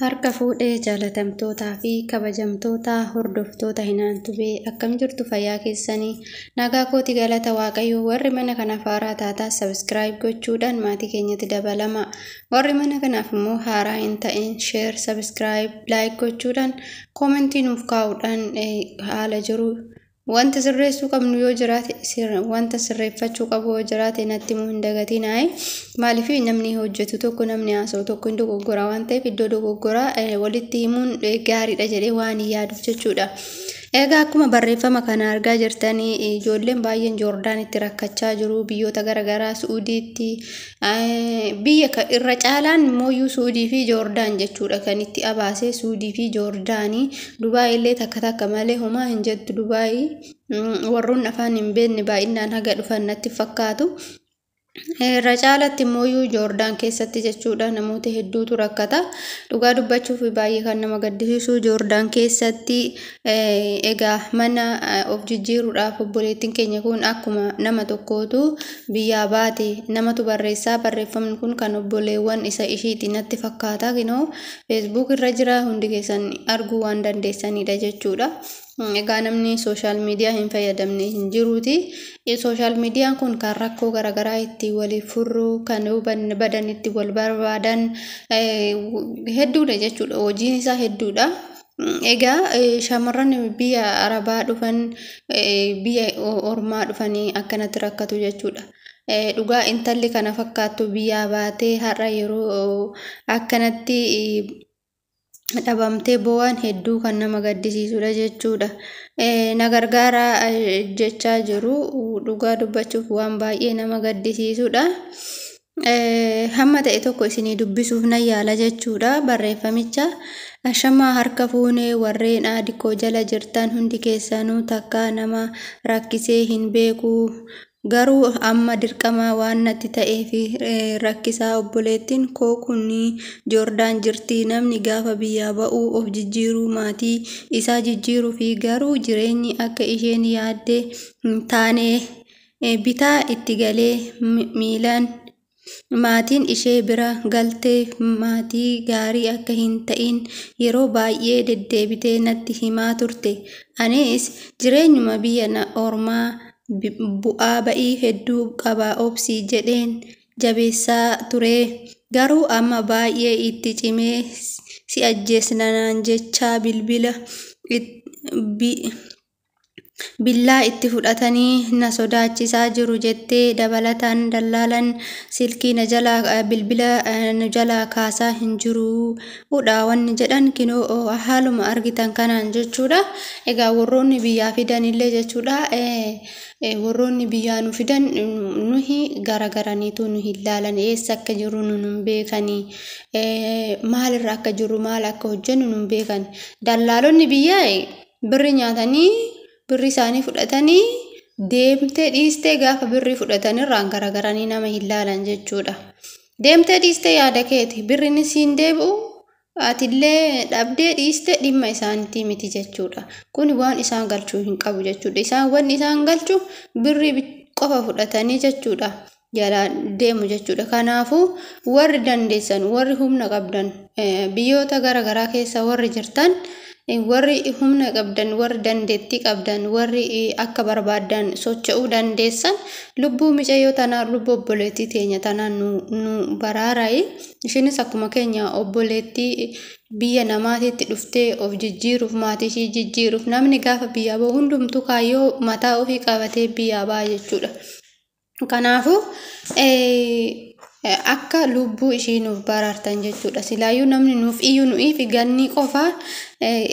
Harka fuudhe jaalatamtootaa fi kabajamtoota hordoftoota hinaan tubee akkam jirtu fayyaa keessanii nagaa kooti galata waaqayyoo warri mana kanaaf haaraa taataa sabiskiraayib gochuudhaan maatii keenyatti dabalama warri mana kanaaf immoo haaraa hin ta'in sheer sabiskiraayib laayik gochuudhaan koomentii nuuf kaa'uudhaan haala jiru Wanta sirreessuu qabnu yoo jiraate wanta sirreeffachuu qabu yoo jiraate natti immoo hin dagatinaa maaliif namni hojjetu tokko namni haasa'u tokko hin dogoggora waan ta'eef iddoo dogoggora walitti himuun gaariidha jedhee waan hin yaaduuf jechuudha. Egaa akkuma barreeffama kana argaa jirtanii ijoolleen baay'een Joordaanitti rakkachaa jiru biyyoota garaagaraa Su'uudiitti biyya irra caalaan mooyyuu suudii fi joordaan jechuudha kan itti abaasee suudii fi joordaanii dubaayii illee takka takka malee homaa hin jettu dubaayii warroonni afaan hin beekne baay'inaan haga dhufan natti fakkaatu. Irra caalatti mooyyuu joordaan keessatti jechuudha namoota hedduutu rakkata dhugaa dubbachuuf baay'ee kan nama gaddisiisu joordaan keessatti Egaa mana of jijjiiruudhaaf obboleettiin keenya kun akkuma nama tokkootu biyyaa baate namatu barreessaa barreeffamni kun kan obboleewwan isa ishiiti natti fakkaata kinoo feesbuuk irra jira hundi keessan arguu waan dandeessanidha jechuudha. Egaa namni sooshaal miidiyaa hin fayyadamne hin jiruuti. Sooshaal miidiyaan kun kan rakkoo garaagaraa itti waliif furru kan badan itti wal barbaadan hedduudha jechuudha hojiin isaa hedduudha. Egaa shamarran biyya arabaa dhufan biyya ormaa dhufanii akkanatti rakkatu jechuudha. Dhugaa intalli kana fakkaattu biyyaa baatee har'a yeroo akkanatti dhabamtee boo'an hedduu kan nama gaddisiisudha jechuudha. Na gargaara jechaa jiru dhugaa dubbachuuf waan baay'ee nama gaddisiisudha. Hamma ta'e tokko isinii dubbisuuf nan yaala jechuudha barreeffamicha. Ashamaa harka fuune warreen aadi koo jala jirtan hundi keessanuu takkaa nama rakkisee hin beeku. Garuu amma dirqama waan natti ta'eef rakkisaa obboleettiin koo kun Joordaan jirti. Namni gaafa biyyaa ba'uu of jijjiiruu maatii isaa jijjiiruufi garuu jireenyi akka isheen yaadde hin taane. bitaa itti galee miilaan maatiin ishee bira galtee maatii gaarii akka hin ta'iin yeroo baay'ee deddeebitee natti himaa turte. Anis jireenyuma biyya ormaa bu'aa ba'ii hedduu qaba obsi jedheen jabeessaa ture. Garuu amma baay'ee itti cimee si ajjeesna naan jechaa bilbila billaa itti fudhatanii na sodaachisaa jiru jettee dabalataan dallaalan silkii na jalaa bilbila nu jalaa kaasaa hin jiru udha wanni jedhan kinoo haaluma argitan kanaan jechuudha egaa warroonni biyyaa fidanillee jechuudha warroonni biyyaa nu fidan nuhi garagaraniitu nu hin laalan eessa akka jiru nu hin beekani maalirra akka jiru maal akka hojjennu nu hin beekan dallaalonni biyyaa Birri nyaatanii birri isaanii fudhatanii deemtee dhiistee gaafa birri fudhatan irraan garagaranii nama hin laalan jechuudha. Deemtee dhiistee yaada keeti birrinis hin deebi'u atillee dhabdee dhiistee dhimma isaaniitii miti jechuudha. Kun waan isaan galchuu hin qabu jechuudha. Isaan wanni isaan galchu birri qofa fudhatanii jechuudha. jalaa deemu jechuudha. Kanaafuu warri dandeessan, warri humna qabdan, biyyoota gara garaa keessa warri jirtan, warri humna qabdan, warri dandeettii qabdan, warri akka barbaaddan socho'uu dandeessan lubbuu micayyoo tanaa, lubbuu obboleettii teenya tanaa nu, nu baraarayi. Ishiinis akkuma keenya obboleettii biyya namaatiitti dhuftee of jijjiiruuf, maatii ishii jijjiiruuf, namni gaafa biyyaa bahu hundumtuu kaayyoo mataa ofii qabatee biyyaa baha jechuudha. Kanaafuu akka lubbuu ishii nuuf baraartan jechuudha. Silaayyuu namni nuuf iyyuu nu'iif gannii qofaa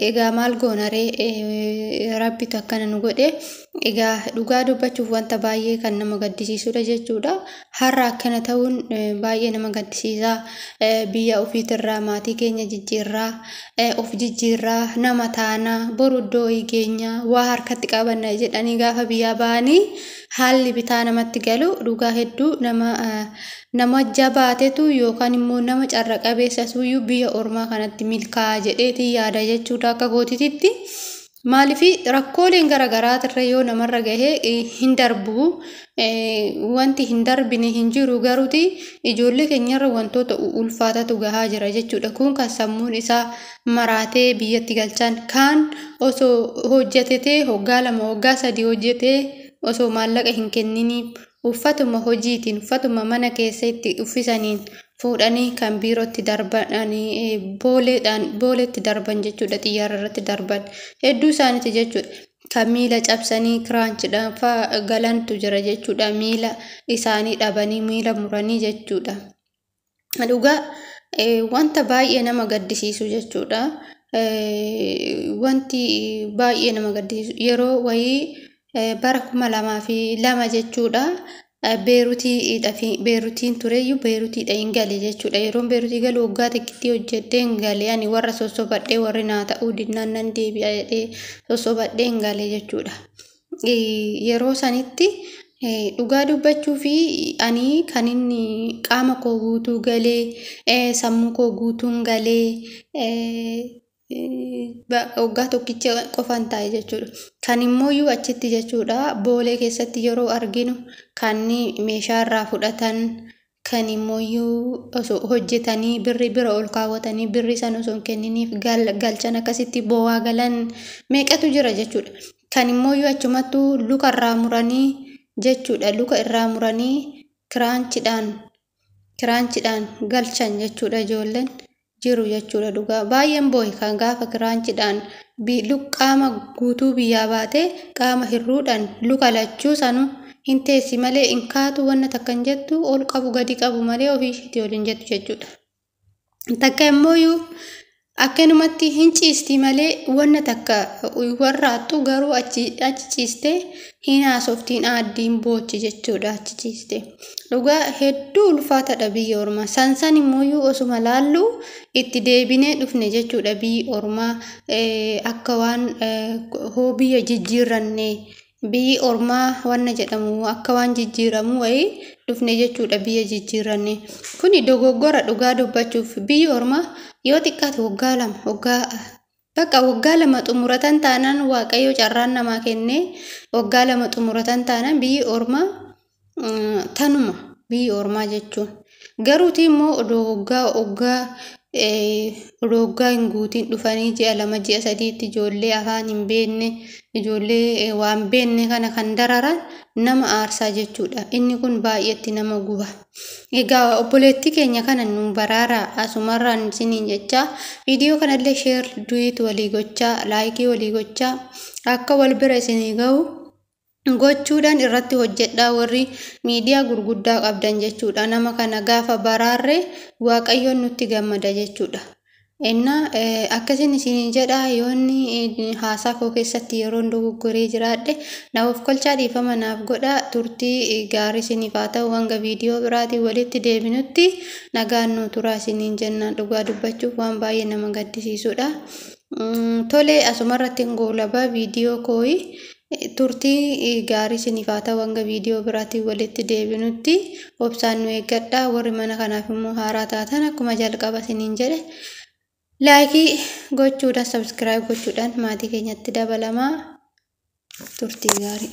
egaa maal goonaree rabbitu akkana nu godhe egaa dhugaa dubbachuuf wanta baay'ee kan nama gaddisiisudha jechuudha. Har'a akkana ta'uun baay'ee nama gaddisiisa. Biyya ofiitirraa maatii keenya jijjiirraa of jijjiirraa nama taana boru iddoo geenya waa harkatti qabanna jedhanii gaafa biyyaa ba'anii. haalli bitaa namatti galu dhugaa hedduu nama nama jabaatetu yookaan immoo nama carra qabeessa suuyyuu biyya ormaa kanatti milkaa'a jedheetii yaada jechuudha akka gootititti. Maaliif rakkooleen gara garaatirra yoo namarra gahee hin darbu wanti hin darbine hin jiru garuuti ijoollee keenyarra wantoota ulfaatatu gahaa jira jechuudha kun kan sammuun isaa maraatee biyyatti galchan kaan osoo hojjetetee hoggaa lama hoggaa sadii hojjetee osoo maallaqa hin kenniniif uffatuma hojiitiin uffatuma mana keessa itti uffisaniin fuudhanii kan biirootti darbanii booleedhaan booleetti darban jechuudha xiyyaara irratti darban hedduu isaaniiti jechuudha. Kan miila cabsanii kiraanchidhaan fa'aa galantu jira jechuudha miila isaanii dhabanii miila muranii jechuudha. Dhugaa wanta baay'ee nama gaddisiisu jechuudha. Wanti baay'ee nama gaddisiisu yeroo wayii bara kuma lamaa fi lama jechuudha. Beerutiin tureyyuu beerutiidha hin gale jechuudha. Yeroon beerutii galu waggaa xiqqittii hojjedhee hin gale ani warra sossobadhee warri naa ta'uu dinnaan nan deebi'a jedhee sossobadhee hin gale jechuudha. yeroo sanitti dhugaa dubbachuu fi ani kan inni qaama koo guutuu galee sammuu koo guutuun galee waggaa tokkicha qofan taa'e jechuudha. Kan immoo iyyuu achitti jechuudha boolee keessatti yeroo arginu kan meeshaa irraa fudhatan Kan immooyyuu osoo hojjetanii birri bira ol kaawwatanii birri san osoo hin kenniniif galchan akkasitti bowaa galan meeqatu jira jechuudha. Kan immooyyuu achumattuu luka irraa muranii jechuudha luka irraa muranii kiraanchidhaan kiraanchidhaan galchan jechuudha ijoolleen. jiru jechuudha dhugaa baay'een boohe kan gaafa kiraanchidhaan qaama guutuu biyyaa baate qaama hirruudhaan luka lachuu sanu hin teessi malee hin kaatu wanna takka hin jettu ol qabu gadi qabu malee ofii ishiitii ol hin jettu jechuudha. Takka immooyyuu akkanumatti hin ciisti malee wanna takka warraattu garuu achi ciiste hin haasoftiin aaddiin boochi jechuudha achi ciiste. Dhugaa hedduu ulfaatadha biyya ormaa. San san immoo osuma laallu itti deebinee dhufne jechuudha biyyi ormaa akka waan hoo biyya jijjiirranne biyyi ormaa wanna jedhamu akka waan jijjiiramu wayii dhufne jechuudha biyya jijjiirranne. Kuni dogoggora dhugaa dubbachuuf biyyi ormaa yoo xiqqaate waggaa lama waggaa Baqa waggaa lama xumuratan taanaan waaqayyo carraan namaa kennee waggaa lama xumuratan taanaan biyyi ormaa tanuma biyyi ormaa jechuun garuuti immoo odoo waggaa waggaa odoo waggaa hin guutiin dhufanii ji'a lama ji'a sadiitti ijoollee afaan hin beekne ijoollee waan beekne kana kan dararaan nama aarsaa jechuudha inni kun baay'eetti nama guba. Egaa obboleettii keenya kana nu baraaraa asumarraan isiniin jechaa viidiyoo kanallee sheer duwiit walii gochaa laayikii walii gochaa akka wal bira isinii ga'u gochuudhaan irratti hojjedhaa warri miidiyaa gurguddaa qabdan jechuudha nama kana gaafa baraarree waaqayyoon nutti gammada jechuudha. Ennaa, Akkasin isiniin jedha, yoo inni haasaa koo keessatti yeroon dogoggoree jiraadhe, na ofkolchaa dhiifama naaf godhaa, turtii gaarii isiniif haa ta'u, hanga viidiyoo biraatiin walitti deebinutti nagaan nuu turaa isiniin jenna. Dhugaa dubbachuuf waan baay'ee nama gaddisiisudha. Tole asumarratti hin goolaba viidiyoo kooyi. Turtii gaarii isiniif haa ta'u hanga viidiyoo biraatiin walitti deebinutti obsaan nu eeggadhaa. Warri mana kanaaf immoo haaraa taatan akkuma jalqaba isiniin jedhe laayikii gochuudhaan sabskiraayib gochuudhaan maatii keenyatti dabalamaa turtii gaarii.